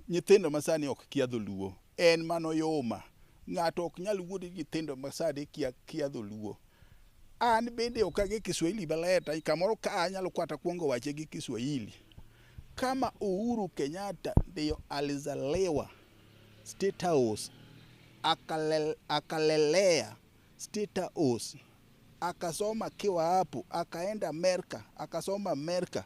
Nyithindo masani ok kia dholuo. En mano yoma. Ng'ato ok nyal wuodo nyithindo masani kia kia dholuo. An bende ok age Kiswahili maler ta kamoro ka anyalo kwata kuongo wache gi Kiswahili. Kama Uhuru Kenyatta ndiyo alizaliwa State House akalel, akalelea State House akasoma akiwa hapo, akaenda Amerika akasoma Amerika,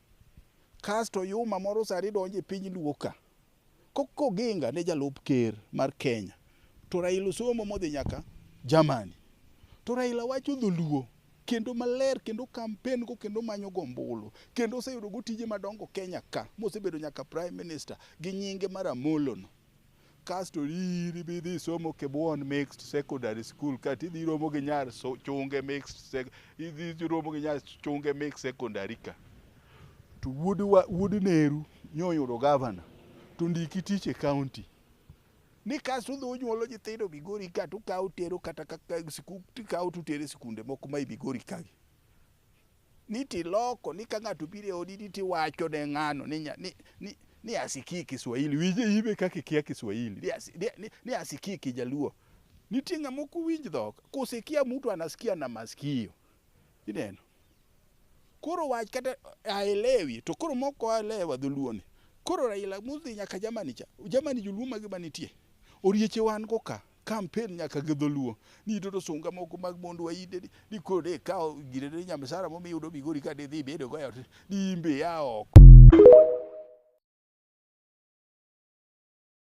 Kasto Yuma moro sani donjo e piny Luo ka koginga ne jalup ker mar Kenya to Raila osomo modhi nyaka Germany to Raila wacho dholuo kendo maler kendo kampen go kendo manyo gombulu kendo oseyudo go tije madongo Kenya ka mosebedo nyaka prime minister gi nyinge mar Amolo no kasto iri bi dhi somo Kibuon Mixed Secondary School kati idhi romo gi nyar so, chunge mixed sec, idhi romo gi nyar chunge mixed secondary ka to wuod wa- wuod Neru nyoyudo gavana to ndiki tich e county ni kasto udhi unyuolo nyithindo Migori ka to ukawo utero kata kaka siku- tikawo to utere sikunde moko ma i Migori kagi ni tiloko ni ka ng'ato biro e odi ni tiwacho ne ng'ano ni, nya- ni, ni, ni asikii Kiswahili winje ibe kaka ikia Kiswahili ni, asi, ni, ni, ni asikii Kijaluo. Nitie ng'ama ok winj dhok, kusikia mtu anasikia na masikio, ineno koro wach kata aelewi to koro moko aelewa dholuoni koro Raila mudhi nyaka Germany cha Germany joluo mage manitie orieche wan go ka campaign nyaka gi dholuo ni to to sunga moko mag mondo wainde ni ni koro de kawo gire ne nyamsara momi yudo migori ka de dhi bedo goyo ni imbe ya oko